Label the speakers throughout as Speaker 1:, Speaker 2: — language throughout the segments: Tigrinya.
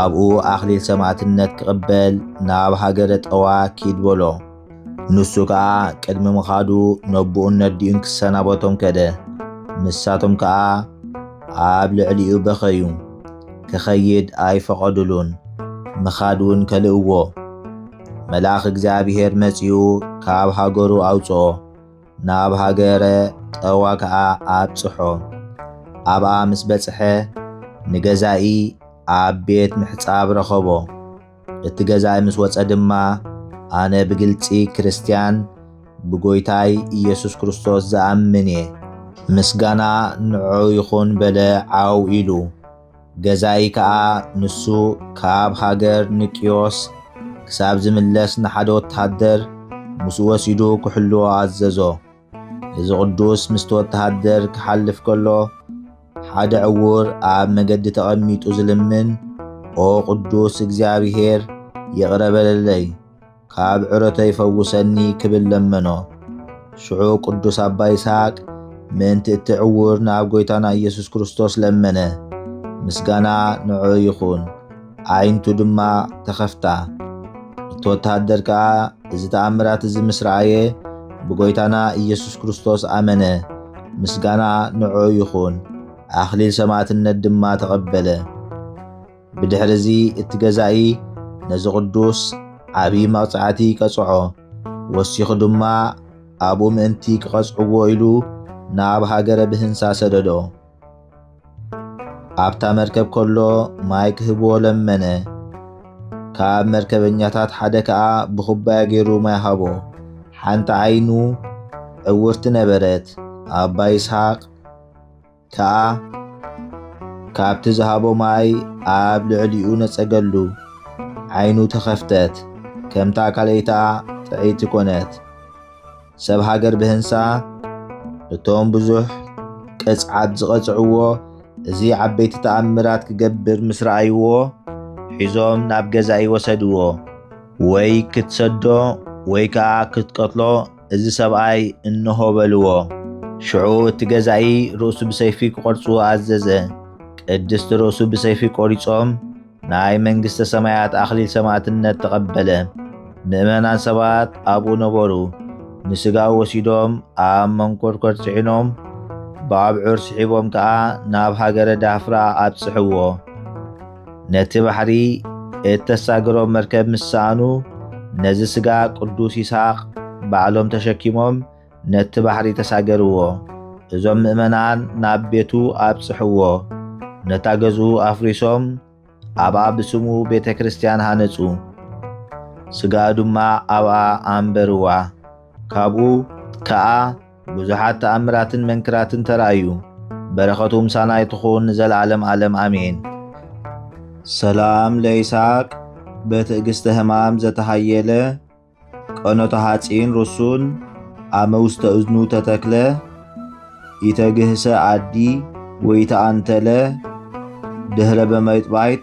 Speaker 1: ኣብኡ ኣኽሊል ሰማዕትነት ክቕበል ናብ ሃገረ ጠዋ ኪድ በሎ። ንሱ ከኣ ቅድሚ ምኻዱ ነቦኡን ነዲኡን ክሰናበቶም ከደ። ንሳቶም ከኣ ኣብ ልዕሊኡ በኸዩ። ክኸይድ ኣይፈቐዱሉን፣ ምኻድ እውን ከልእዎ። መልኣኽ እግዚኣብሔር መጺኡ ካብ ሃገሩ ኣውጽኦ። ናብ ሃገረ ጠዋ ከኣ ኣብጽሖ። ኣብኣ ምስ በጽሐ ንገዛኢ ኣብ ቤት ምሕጻብ ረኸቦ። እቲ ገዛኢ ምስ ወጸ ድማ ኣነ ብግልጺ ክርስትያን ብጎይታይ ኢየሱስ ክርስቶስ ዝኣምን እየ። ምስጋና ንዑ ይኹን በለ ዓው ኢሉ። ገዛኢ ከኣ ንሱ ካብ ሃገር ንቅዮስ ክሳብ ዝምለስ ንሓደ ወተሃደር ምስኡ ወሲዱ ክሕልዎ ኣዘዞ። እዚ ቅዱስ ምስቲ ወተሃደር ክሓልፍ ከሎ ሓደ ዕዉር ኣብ መገዲ ተቐሚጡ ዝልምን ኦ ቅዱስ እግዚኣብሔር ይቕረ በለለይ፣ ካብ ዕረተይ ፈውሰኒ ክብል ለመኖ። ሽዑ ቅዱስ ኣባ ይስሐቅ ምእንቲ እቲ ዕውር ናብ ጐይታና ኢየሱስ ክርስቶስ ለመነ። ምስጋና ንዑ ይኹን። ኣዒንቱ ድማ ተኸፍታ። እቲ ወተሃደር ከኣ እዚ ተኣምራት እዚ ምስ ረኣየ ብጐይታና ኢየሱስ ክርስቶስ ኣመነ። ምስጋና ንዑ ይኹን። ኣኽሊል ሰማዕትነት ድማ ተቐበለ። ብድሕሪ እዚ እቲ ገዛኢ ነዚ ቕዱስ ዓብዪ መቕጻዕቲ ቀጽዖ። ወሲኹ ድማ ኣብኡ ምእንቲ ኪቐጽዕዎ ኢሉ ናብ ሃገረ ብህንሳ ሰደዶ። ኣብታ መርከብ ከሎ ማይ ክህብዎ ለመነ። ካብ መርከበኛታት ሓደ ከኣ ብኹባያ ገይሩ ማይ ሃቦ። ሓንቲ ዓይኑ ዕውርቲ ነበረት። ኣባ ይስሃቅ። ከኣ ካብቲ ዝሃቦ ማይ ኣብ ልዕሊኡ ነጸገሉ፣ ዓይኑ ተኸፍተት፣ ከምታ ካልኣይታ ጥዕይቲ ኮነት። ሰብ ሃገር ብህንሳ እቶም ብዙሕ ቅጽዓት ዝቐጽዕዎ እዚ ዓበይቲ ተኣምራት ክገብር ምስ ረኣይዎ ሒዞም ናብ ገዛኢ ወሰድዎ። ወይ ክትሰዶ ወይ ከኣ ክትቀትሎ እዚ ሰብኣይ እንሆ በልዎ። ሽዑ እቲ ገዛኢ ርእሱ ብሰይፊ ክቖርጽዎ ኣዘዘ። ቅድስቲ ርእሱ ብሰይፊ ቆሪጾም ናይ መንግሥተ ሰማያት ኣኽሊል ሰማዕትነት ተቐበለ። ምእመናን ሰባት ኣብኡ ነበሩ። ንሥጋው ወሲዶም ኣብ መንኰርኰር ጽዒኖም ብኣብዑር ስሒቦም ከኣ ናብ ሃገረ ዳፍራ ኣብጽሕዎ። ነቲ ባሕሪ እተሳግሮ መርከብ ምስ ሰኣኑ፣ ነዚ ስጋ ቅዱስ ይስሃቅ ባዕሎም ተሸኪሞም ነቲ ባሕሪ ተሳገርዎ። እዞም ምእመናን ናብ ቤቱ ኣብጽሕዎ። ነታ ገዝኡ ኣፍሪሶም ኣብኣ ብስሙ ቤተ ክርስቲያን ሃነጹ። ስጋኡ ድማ ኣብኣ ኣንበርዋ። ካብኡ ከኣ ብዙሓት ተኣምራትን መንክራትን ተራእዩ። በረኸቱ ምሳና ይትኹን ንዘለዓለም ዓለም ኣሜን። ሰላም ለይስሐቅ በትዕግስተ ህማም ዘተሃየለ ቀኖተ ሐጺን ርሱን አመ ውስተ እዝኑ ተተክለ ይተግህሰ አዲ ወይተአንተለ ድህረ በመይጥባይጥ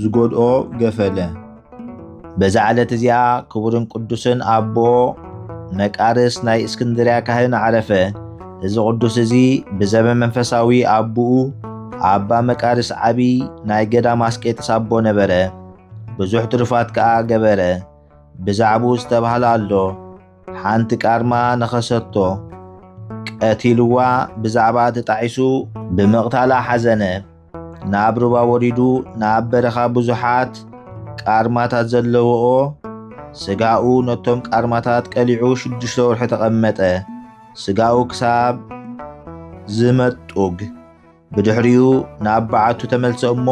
Speaker 1: ዝጎድኦ ገፈለ። በዛ ዕለት እዚኣ ክቡርን ቅዱስን ኣቦ መቃርስ ናይ እስክንድርያ ካህን ዓረፈ። እዚ ቅዱስ እዚ ብዘበ መንፈሳዊ ኣቦኡ ኣባ መቃርስ ዓቢ ናይ ገዳም ኣስቄጥስ ኣቦ ነበረ። ብዙሕ ትሩፋት ከኣ ገበረ። ብዛዕቡ ዝተባህለ ኣሎ ሓንቲ ቃርማ ነኸሰቶ ቀቲልዋ ብዛዕባ ተጣዒሱ ብምቕታላ ሓዘነ። ናብ ሩባ ወሪዱ ናብ በረኻ ብዙሓት ቃርማታት ዘለዎኦ ስጋኡ ነቶም ቃርማታት ቀሊዑ ሽዱሽተ ወርሒ ተቐመጠ። ስጋኡ ክሳብ ዝመጡግ ብድሕሪኡ ናብ በዓቱ ተመልሰ እሞ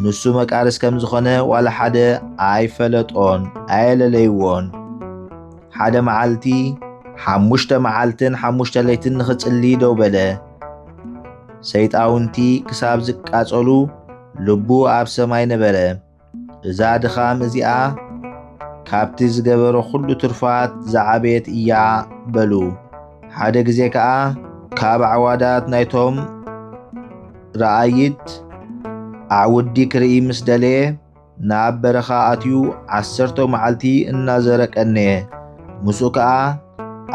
Speaker 1: ንሱ መቃርስ ከም ዝኾነ ዋላ ሓደ ኣይፈለጦን ኣየለለይዎን። ሓደ መዓልቲ ሓሙሽተ መዓልትን ሓሙሽተ ለይትን ንኽጽሊ ደው በለ። ሰይጣውንቲ ክሳብ ዝቃጸሉ ልቡ ኣብ ሰማይ ነበረ። እዛ ድኻም እዚኣ ካብቲ ዝገበሮ ዅሉ ትርፋት ዝዓበየት እያ በሉ። ሓደ ግዜ ከኣ ካብ ዓዋዳት ናይቶም ረኣይት ኣዕውዲ ክርኢ ምስ ደለየ ናብ በረኻ ኣትዩ ዓሰርተ መዓልቲ እናዘረ ቀነየ። ምስኡ ከኣ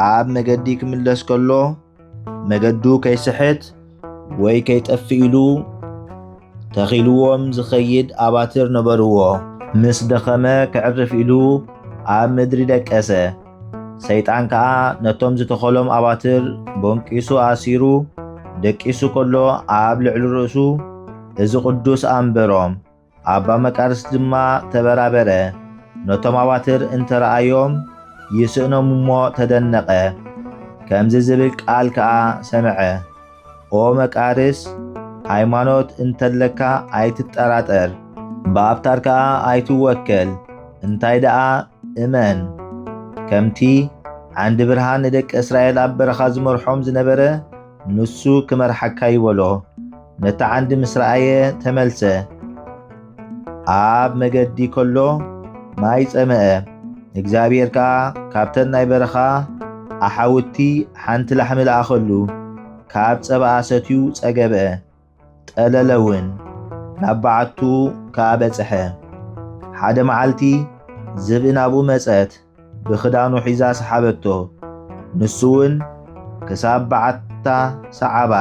Speaker 1: ኣብ መገዲ ክምለስ ከሎ መገዱ ከይስሕት ወይ ከይጠፍእ ኢሉ ተኺልዎም ዝኸይድ ኣባትር ነበርዎ። ምስ ደኸመ ከዕርፍ ኢሉ ኣብ ምድሪ ደቀሰ። ሰይጣን ከኣ ነቶም ዝተኸሎም ኣባትር ቦንቂሱ ኣሲሩ ደቂሱ ከሎ ኣብ ልዕሊ ርእሱ እዚ ቅዱስ ኣንበሮም። ኣባ መቃርስ ድማ ተበራበረ፣ ነቶም ኣዋትር እንተ ረኣዮም ይስእኖም እሞ ተደነቐ፣ ከምዚ ዝብል ቃል ከኣ ሰምዐ፣ ኦ መቃርስ፣ ሃይማኖት እንተለካ ኣይትጠራጠር፣ ብኣብታር ከኣ ኣይትወከል፣ እንታይ ደኣ እመን፣ ከምቲ ዓንዲ ብርሃን ንደቂ እስራኤል ኣብ በረኻ ዝመርሖም ዝነበረ፣ ንሱ ክመርሓካ ይበሎ። ነቲ ዓንዲ ምስ ረኣየ ተመልሰ። ኣብ መገዲ ከሎ ማይ ጸመአ። እግዚኣብሔር ከኣ ካብተን ናይ በረኻ ኣሓውቲ ሓንቲ ላሕሚ ለኣኸሉ። ካብ ጸባኣ ሰትዩ ጸገበ። ጠለለውን ናብ በዓቱ ከኣ በጽሐ። ሓደ መዓልቲ ዝብኢ ናብኡ መጸት፣ ብኽዳኑ ሒዛ ሰሓበቶ። ንሱውን ክሳብ በዓታ ሰዓባ፣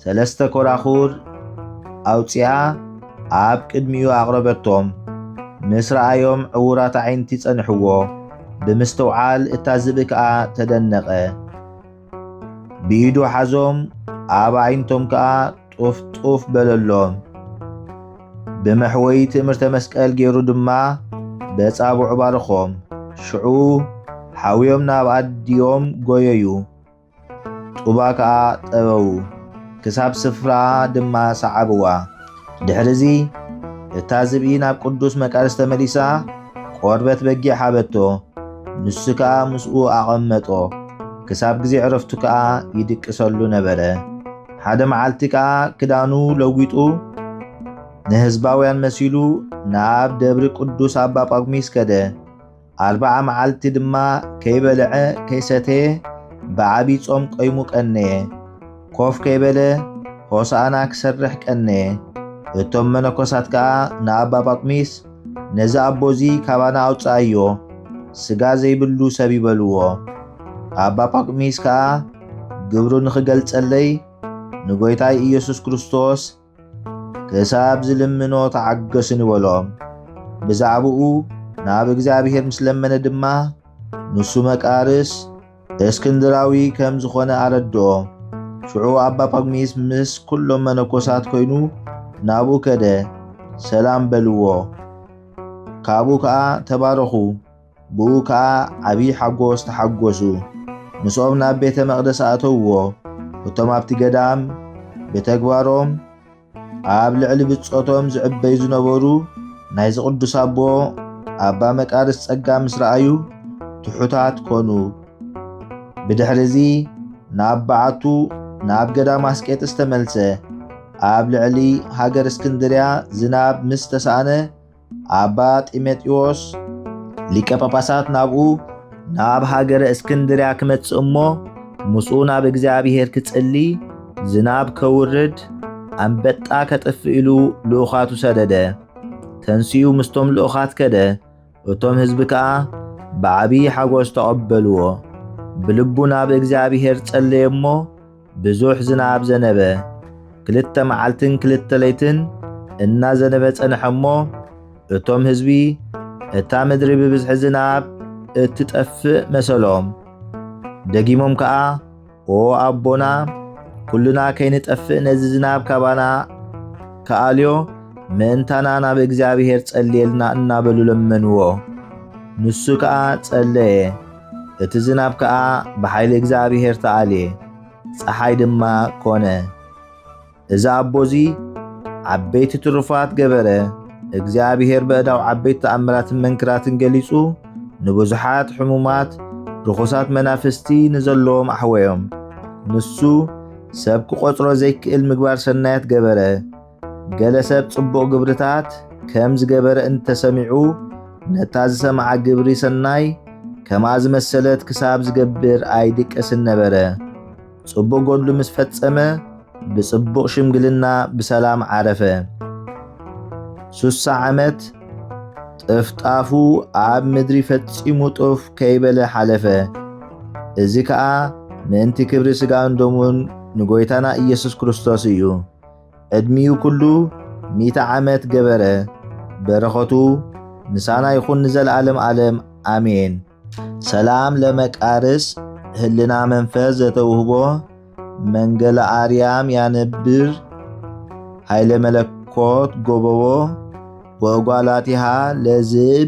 Speaker 1: ሰለስተ ኮራኹር ኣውጺኣ ኣብ ቅድሚኡ ኣቕረበቶም። ምስ ረኣዮም ዕዉራት ኣዒንቲ ጸንሕዎ፣ ብምስትውዓል እታ ዝብኢ ከኣ ተደነቐ። ብኢዱ ሓዞም ኣብ ኣዒንቶም ከኣ ጡፍ ጡፍ በለሎም። ብመሕወይ ትእምርተ መስቀል ገይሩ ድማ በጻብዑ ባርኾም። ሽዑ ሓውዮም ናብ ኣዲኦም ጎየዩ፣ ጡባ ከኣ ጠበዉ፣ ክሳብ ስፍራ ድማ ሰዓብዋ። ድሕርዚ እታ ዝብኢ ናብ ቅዱስ መቃርስ ተመሊሳ ቆርበት በጊዕ ሃበቶ፣ ንሱ ከኣ ምስኡ ኣቐመጦ፣ ክሳብ ግዜ ዕረፍቱ ከኣ ይድቅሰሉ ነበረ። ሓደ መዓልቲ ከኣ ክዳኑ ለዊጡ ንህዝባውያን መሲሉ ናብ ደብሪ ቅዱስ ኣባ ጳጉሚስ ከደ። ኣርብዓ መዓልቲ ድማ ከይበልዐ ከይሰተየ ብዓብዪ ጾም ቈይሙ ቀነየ። ኮፍ ከይበለ ሆሳእና ክሰርሕ ቀነየ። እቶም መነኮሳት ከኣ ንኣባ ጳኩሚስ ነዚ ኣቦ እዚ ካባና ኣውጽኣዮ፣ ስጋ ዘይብሉ ሰብ እዩ በልዎ። ኣባ ጳኩሚስ ከኣ ግብሩ ንኽገልጸለይ ንጐይታይ ኢየሱስ ክርስቶስ ክሳብ ዝልምኖ ተዓገሱኒ በሎም። ብዛዕባኡ ናብ እግዚኣብሔር ምስ ለመነ ድማ ንሱ መቃርስ እስክንድራዊ ከም ዝኾነ ኣረድኦ። ሽዑ ኣባ ጳጉሚስ ምስ ኩሎም መነኮሳት ኮይኑ ናብኡ ከደ፣ ሰላም በልዎ። ካብኡ ከኣ ተባረኹ፣ ብኡ ከኣ ዓብዪ ሓጎስ ተሓጎሱ። ምስኦም ናብ ቤተ መቕደስ ኣእተውዎ። እቶም ኣብቲ ገዳም ብተግባሮም ኣብ ልዕሊ ብጾቶም ዝዕበዩ ዝነበሩ ናይዚ ቅዱስ ኣቦ ኣባ መቃርስ ጸጋ ምስ ረኣዩ ትሑታት ኮኑ። ብድሕርዚ ናብ በዓቱ ናብ ገዳም ኣስቄጥስ ተመልሰ። ኣብ ልዕሊ ሃገር እስክንድርያ ዝናብ ምስ ተሳእነ ኣባ ጢሞቴዎስ ሊቀ ጳጳሳት ናብኡ ናብ ሃገረ እስክንድርያ ክመጽእ እሞ ምስኡ ናብ እግዚኣብሔር ክጽሊ ዝናብ ከውርድ ኣንበጣ ከጥፍእ ኢሉ ልኡኻቱ ሰደደ። ተንስኡ ምስቶም ልኡኻት ከደ፣ እቶም ህዝቢ ከኣ ብዓብዪ ሓጐስ ተቐበልዎ። ብልቡ ናብ እግዚኣብሔር ጸለየ እሞ ብዙሕ ዝናብ ዘነበ። ክልተ መዓልትን ክልተ ለይትን እናዘነበ ጸንሐ እሞ እቶም ህዝቢ እታ ምድሪ ብብዝሒ ዝናብ እትጠፍእ መሰሎም። ደጊሞም ከኣ ኦ ኣቦና ኩሉና ከይንጠፍእ ነዚ ዝናብ ካባና ከኣልዮ ምእንታና ናብ እግዚኣብሔር ጸልየልና እናበሉ ለመንዎ። ንሱ ከኣ ጸለየ። እቲ ዝናብ ከኣ ብሓይሊ እግዚኣብሔር ተኣልየ፣ ፀሓይ ድማ ኮነ። እዚ ኣቦዚ ዓበይቲ ትሩፋት ገበረ፣ እግዚኣብሔር በእዳው ዓበይቲ ተኣምራትን መንክራትን ገሊጹ ንብዙሓት ሕሙማት ርኹሳት መናፍስቲ ንዘለዎም ኣሕወዮም። ንሱ ሰብ ክቖጽሮ ዘይክእል ምግባር ሰናያት ገበረ። ገለ ሰብ ጽቡቕ ግብርታት ከም ዝገበረ እንተሰሚዑ ነታ ዝሰምዓ ግብሪ ሰናይ ከማ ዝመሰለት ክሳብ ዝገብር ኣይድቀስን ነበረ። ጽቡቕ ጐድሉ ምስ ፈጸመ ብጽቡቕ ሽምግልና ብሰላም ዓረፈ። ሱሳ ዓመት ጥፍጣፉ ኣብ ምድሪ ፈጺሙ ጡፍ ከይበለ ሓለፈ። እዚ ከኣ ምእንቲ ክብሪ ስጋን ደሙን ንጐይታና ኢየሱስ ክርስቶስ እዩ። ዕድሚኡ ኩሉ ሚእቲ ዓመት ገበረ በረኸቱ ምሳና ይኹን ንዘለዓለም ዓለም ኣሜን። ሰላም ለመቃርስ ህልና መንፈስ ዘተውህቦ መንገለ ኣርያም ያነብር ኃይለ መለኮት ጎበቦ ወእጓላቲሃ ለዝብ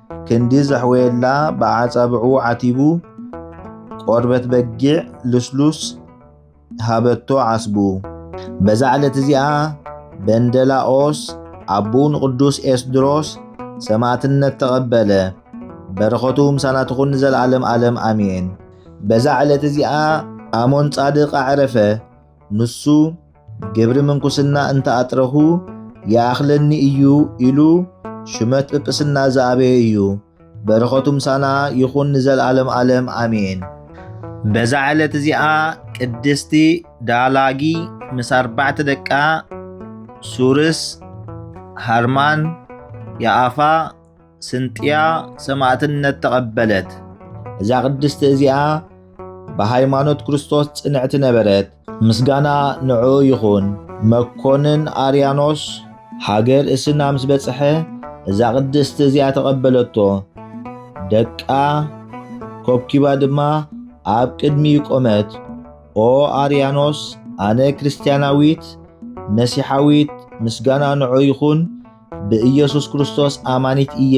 Speaker 1: ክንዲ ዘሕወየላ ብኣዓጻብዑ ዓቲቡ ቆርበት በጊዕ ልስሉስ ሃበቶ ዓስቡ። በዛ ዕለት እዚኣ በንደላኦስ ኣቦኡ ንቅዱስ ኤስድሮስ ሰማእትነት ተቐበለ። በረኸቱ ምሳና ትኹን ንዘለዓለም ዓለም ኣሜን። በዛ ዕለት እዚኣ ኣሞን ጻድቅ ኣዕረፈ። ንሱ ግብሪ ምንኩስና እንተ ኣጥረኹ ይኣኽለኒ እዩ ኢሉ ሹመት ጵጵስና ዝኣበየ እዩ። በረኸቱ ምሳና ይኹን ንዘልኣለም ኣለም ኣሜን። በዛ ዕለት እዚኣ ቅድስቲ ዳላጊ ምስ ኣርባዕተ ደቃ ሱርስ፣ ሃርማን፣ ያኣፋ፣ ስንጥያ ሰማእትነት ተቐበለት። እዛ ቅድስቲ እዚኣ ብሃይማኖት ክርስቶስ ጽንዕቲ ነበረት። ምስጋና ንዑ ይኹን። መኮንን ኣርያኖስ ሃገር እስና ምስ በጽሐ እዛ ቅድስቲ እዚኣ ተቐበለቶ። ደቃ ኮብኪባ ድማ ኣብ ቅድሚኡ ቆመት። ኦ ኣርያኖስ ኣነ ክርስትያናዊት መሲሓዊት ምስጋና ንዑ ይኹን ብኢየሱስ ክርስቶስ ኣማኒት እየ፣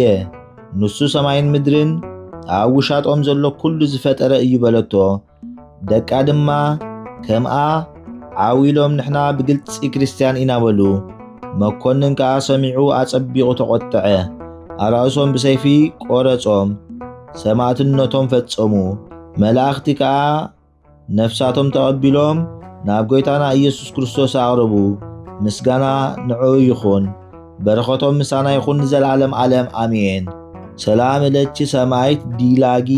Speaker 1: ንሱ ሰማይን ምድርን ኣብ ውሻጦም ዘሎ ኩሉ ዝፈጠረ እዩ በለቶ። ደቃ ድማ ከምኣ ዓው ኢሎም ንሕና ብግልፂ ክርስትያን ኢና በሉ። መኮንን ከዓ ሰሚዑ ኣጸቢቑ ተቖጠዐ። ኣራእሶም ብሰይፊ ቆረጾም፣ ሰማእትነቶም ፈጸሙ። መላእኽቲ ከዓ ነፍሳቶም ተቐቢሎም ናብ ጐይታና ኢየሱስ ክርስቶስ ኣቕርቡ። ምስጋና ንዕኡ ይኹን፣ በረኸቶም ምሳና ይኹን ንዘለዓለም ዓለም ኣሜን። ሰላም እለኪ ሰማይት ዲላጊ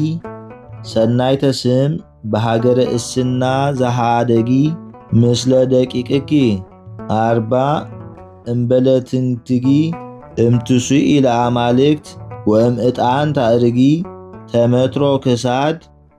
Speaker 1: ሰናይተ ስም በሃገረ እስና ዘሃደጊ ምስለ ደቂቅኪ ኣርባ እምበለትንትጊ እምትሱኢ ለኣማልክት ወእም እጣን ታእርጊ ተመትሮ ክሳድ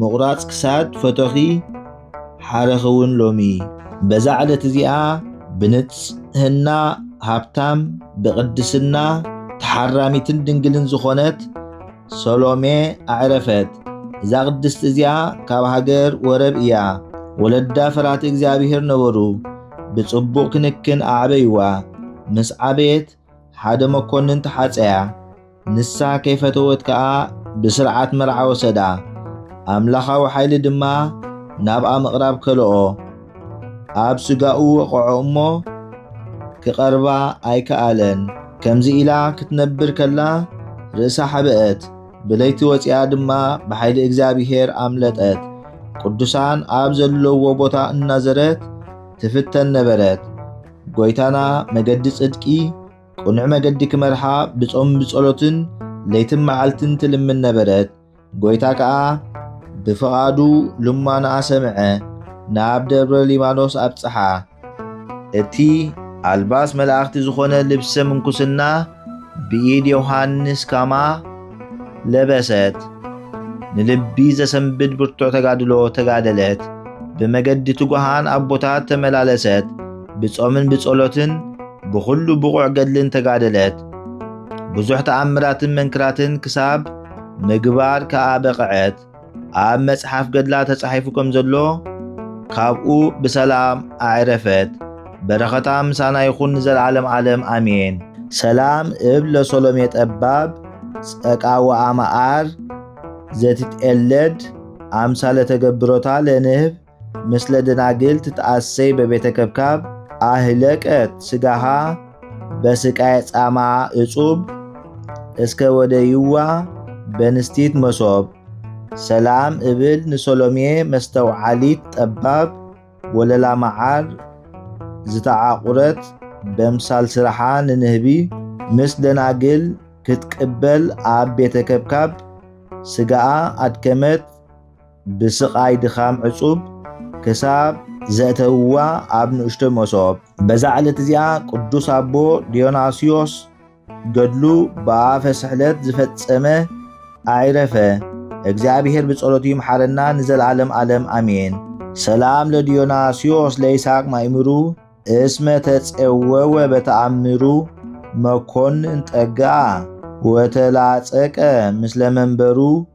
Speaker 1: ምቑራጽ ክሳድ ፈቶኺ ሓረኺ እውን ሎሚ። በዛ ዕለት እዚኣ ብንጽህና ሃብታም ብቕድስና ተሓራሚትን ድንግልን ዝኾነት ሰሎሜ ኣዕረፈት። እዛ ቅድስቲ እዚኣ ካብ ሃገር ወረብ እያ። ወለዳ ፈራቲ እግዚኣብሔር ነበሩ። ብጽቡቕ ክንክን ኣዕበይዋ። ምስ ዓበየት ሓደ መኮንን ተሓጸያ፣ ንሳ ከይፈተወት ከኣ ብስርዓት መርዓ ወሰዳ፣ ኣምላኻዊ ሓይሊ ድማ ናብኣ ምቕራብ ከልኦ። ኣብ ስጋኡ ወቐዖ እሞ ክቐርባ ኣይከኣለን። ከምዚ ኢላ ክትነብር ከላ ርእሳ ሓበአት፣ ብለይቲ ወፂኣ ድማ ብሓይሊ እግዚኣብሔር ኣምለጠት። ቅዱሳን ኣብ ዘለዎ ቦታ እናዘረት ትፍተን ነበረት። ጎይታና መገዲ ጽድቂ ቅኑዕ መገዲ ክመርሓ ብጾም ብጸሎትን ለይትን መዓልትን ትልምን ነበረት። ጎይታ ከኣ ብፍቓዱ ልማንኣ ሰምዐ፣ ናብ ደብረ ሊባኖስ ኣብጽሓ። እቲ ኣልባስ መላእኽቲ ዝኾነ ልብሰ ምንኩስና ብኢድ ዮሃንስ ካማ ለበሰት ንልቢ ዘሰንብድ ብርቱዕ ተጋድሎ ተጋደለት። ብመገዲ ትጉሃን ኣቦታት ተመላለሰት። ብጾምን ብጸሎትን ብኹሉ ብቑዕ ገድልን ተጋደለት። ብዙሕ ተኣምራትን መንክራትን ክሳብ ምግባር ከኣ በቐዐት። ኣብ መጽሓፍ ገድላ ተጻሒፉ ከም ዘሎ ካብኡ ብሰላም ኣዕረፈት። በረኸታ ምሳና ይኹን ንዘለዓለም ዓለም ኣሜን። ሰላም እብ ለሶሎሜ ጠባብ ጸቃ ወኣማኣር ዘትትኤለድ አምሳለ ተገብሮታ ለንህብ ምስለ ደናግል ትትኣሰይ በቤተ ከብካብ አህለቀት ስጋሃ በስቃይ ጻማ እጹብ እስከ ወደ ይዋ በንስቲት መሶብ ሰላም እብል ንሰሎሜ መስተውዓሊት ጠባብ ወለላ መዓር ዝተዓቑረት በምሳል ስራሓ ንንህቢ ምስ ደናግል ክትቅበል ኣብ ቤተ ከብካብ ስጋኣ ኣድከመት ብስቓይ ድኻም ዕጹብ ክሳብ ዘእተውዋ ኣብ ንእሽቶ መሶብ በዛ ዕለት እዚኣ ቅዱስ ኣቦ ዲዮናስዮስ ገድሉ ብኣፈ ስሕለት ዝፈጸመ ኣዒረፈ። እግዚኣብሔር ብጸሎቱ ይምሓረና ንዘለዓለም ዓለም ኣሜን። ሰላም ለዲዮናስዮስ ለይስሐቅ ማእምሩ እስመ ተጸወወ በተኣምሩ መኮንን ጠግኣ ወተላጸቀ ምስለ መንበሩ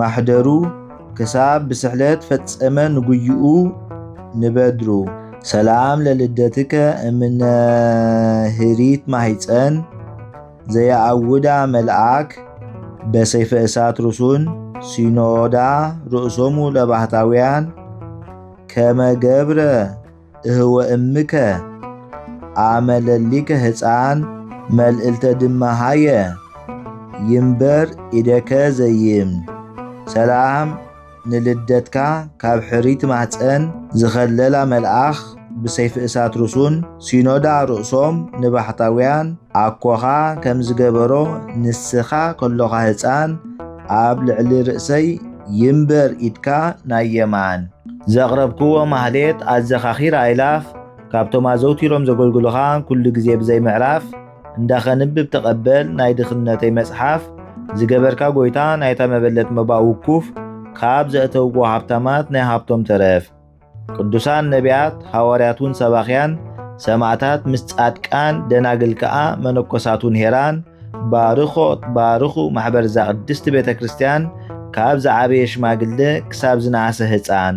Speaker 1: ማሕደሩ ክሳብ ብስሕለት ፈጸመ ንጉይኡ ንበድሩ። ሰላም ለልደትከ እምነ ህሪት ማህፀን ዘየኣውዳ መልኣክ በሰይፈ እሳት ርሱን ሲኖዳ ርእሶሙ ለባህታውያን ከመ ገብረ እህወ እምከ አመለሊከ ህፃን መልእልተ ድማ ሃየ ይምበር ኢደከ ዘይም ሰላም ንልደትካ ካብ ሕሪት ማህፀን ዝኸለላ መልኣኽ ብሰይፊ እሳት ርሱን ሲኖዳ ርእሶም ንባሕታውያን ኣኮኻ ከም ዝገበሮ ንስኻ ከሎኻ ህፃን ኣብ ልዕሊ ርእሰይ ይምበር ኢድካ ናይ የማን ዘቕረብክዎ ማህሌት ኣዘኻኺር ኣይላፍ ካብቶም ኣዘውቲሮም ዘገልግሉኻ ኩሉ ግዜ ብዘይ ምዕራፍ እንዳኸንብብ ተቐበል ናይ ድኽነተይ መጽሓፍ ዝገበርካ ጎይታ ናይታ መበለት መባ ውኩፍ ካብ ዘእተውዎ ሃብታማት ናይ ሃብቶም ተረፍ ቅዱሳን ነቢያት ሃዋርያት እውን ሰባኽያን ሰማእታት ምስ ጻድቃን ደናግል ከኣ መነኮሳት እውን ሄራን ባርኾት ባርኹ ማሕበር እዛ ቅድስቲ ቤተ ክርስቲያን ካብ ዝዓበየ ሽማግለ ክሳብ ዝነኣሰ ህፃን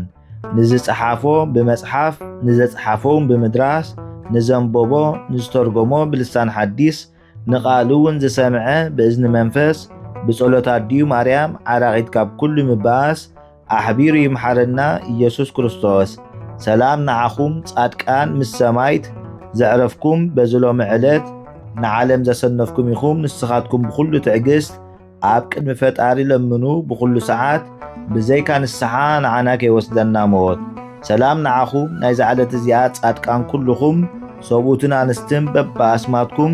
Speaker 1: ንዝፀሓፎ ብመፅሓፍ ንዘፅሓፎ እውን ብምድራስ ንዘንበቦ ንዝተርጎሞ ብልሳን ሓዲስ ንቃሉ እውን ዝሰምዐ ብእዝኒ መንፈስ ብጸሎት ኣዲኡ ማርያም ዓራቂት ካብ ኩሉ ምባኣስ ኣሕቢሩ ይምሓረና ኢየሱስ ክርስቶስ። ሰላም ንዓኹም ጻድቃን ምስ ሰማይት ዘዕረፍኩም በዚ ሎሚ ዕለት ንዓለም ዘሰነፍኩም ኢኹም ንስኻትኩም ብኹሉ ትዕግስት ኣብ ቅድሚ ፈጣሪ ለምኑ ብኹሉ ሰዓት ብዘይካ ንስሓ ንዓና ከይወስደና ሞት። ሰላም ንዓኹም ናይዛ ዕለት እዚኣ ጻድቃን ኩልኹም ሰብኡትን ኣንስትን በብኣስማትኩም